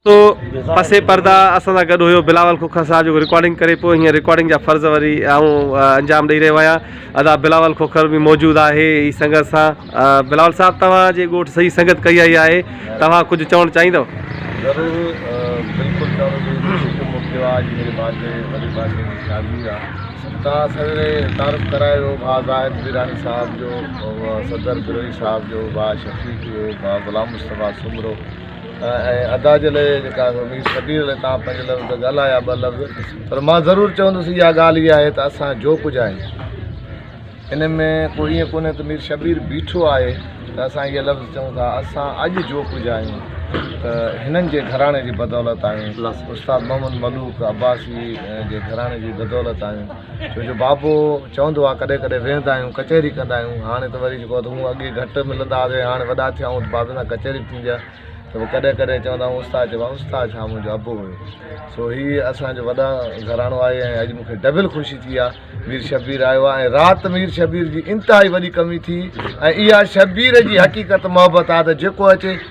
سو پسي پرده اسان سان گڏ هيو بلاول کوکر صاحب جيڪو رڪارڊنگ ڪري پيو هينئر رڪارڊنگ جا فرض وري آئون انجام ڏئي رهيو آهيان ادا بلاول کوکر به موجود آهي هي سنگت سان بلاول صاحب توهان جي ڳوٺ صحيح سنگت ڪئي آئي آهي توهان ڪجهه چوڻ چاهيندو ضرور بالڪل چوڻ جي خوشي ٿو ٿيو آج میري بانجي وڏي بانجي جي شادي آهي توهان سويري تعارف ڪرايو ڀاء زاهد بيراڻي صاحب جو صدر بروهي صاحب جو ڀاء شفيق جو ڀاء غلام مصطفيٰ سومرو ۽ ادا جي لئه جيڪا مير شبير لئه تان پنج لفظ ڳالهايا ٻه لفظ پر مان ضرور چوندس اها ڳالهه اها آهي ته اسان جو ڪجهه آهي ان ۾ ڪو ائين ڪونهي ته مير شبير بيٺو آهي ته اسان اهي لفظ چون ٿا اسان اڄ جو ڪجهه آهيون ته هنن جي گهراڻي جي بدولت آهيون استاد محمد ملوڪ عباسي جي گهراڻي جي بدولت آهيون ڇو جو بابو چوندو آ ڪڏهن ڪڏهن ويهندا آهيون ڪچهري ڪندا آهيون هاڻي ته وري جيڪو هون اڳي گهٽ ملندا هئاسين هاڻي وڏا ٿيا آهيون ته بابي سان ڪچهري به ٿيندي آهي ته پوء ڪڏهن ڪڏهن چوندا آهيون استاد چئبو آهي استاد ڇا منهنجو ابو هيو سو هي اسانجو وڏا گهراڻو آهي ۽ اڄ مونکي ڊبل خوشي ٿي آ مير شبير آيو آ ۽ رات مير شبير جي انتهائي وڏي ڪمي ٿي ۽ اها شبير جي حقيقت محبت آ ته جيڪو اچي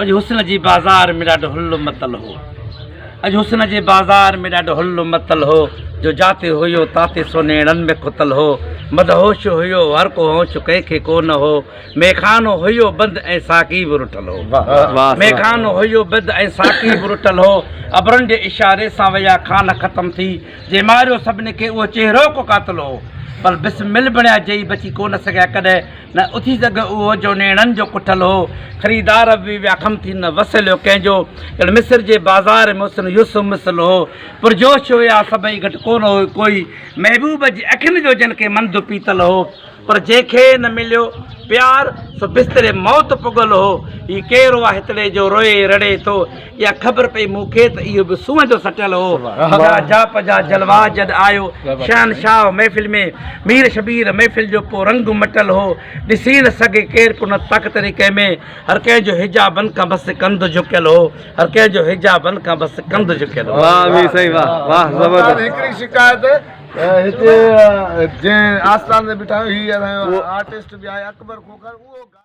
اڄ حسن جي بازار ۾ ڏاڍو هل متل هو اڄ حسن جي بازار ۾ ڏاڍو هل متل هو جو جاتي هيو تاتي سونهيڻن ۾ کتل هو مدهوش هيو هر ڪو هوش ڪنهن کي ڪو نه هو ميخانو هيو بند ۽ ساقي به رٺل هو ميخانو هيو بند ۽ ساقي به رٺل هو ابرن جي اشاري سان ويا خان ختم ٿي جي ماريو سڀني کي اهو چهرو ڪو قاتل هو پر بسمل بڻيا جئي بچي ڪو نه سگهيا ڪڏهن نه اٿي سگهه اهو جو نيڻن جو ڪٺل هو، خريدار به ويا خم ٿي نه وسليو ڪنهن جو، ڄڻ مصر جي بازار ۾ حسن يوسف مثل هو. پرجوش هيا سڀئي گهٽ ڪونه هو ڪوئي، محبوب جي اکين جو جن کي منڌ پيتل هو. پر جنهن کي نه مليو پيار، سو بستري موت پڳل هو. هي ڪير هو آ هتڙي جو روئي رڙي ٿو، اها خبر پئي مون کي ته اهو به سونهن جو سٽيل هو جا جاپ جا جلوا جڏ آيو شهنشاهه محفل ۾ مير شبير محفل جو ڪو رنگ مٽل هو ڏسي نه سگهي ڪير ڪو نه تخت طريقي ۾ هر ڪنهن جو حجابن کان بس ڪنڌ جهڪيل هو هر ڪنهن جو حجابن کان بس ڪنڌ جهڪيل هو واهه مير سائين واهه واهه زبردست هڪڙي شڪايت هتي جنهن آستان تي بٺايو هي اسان جو آرٽسٽ به آهي اڪبر کوکر اهو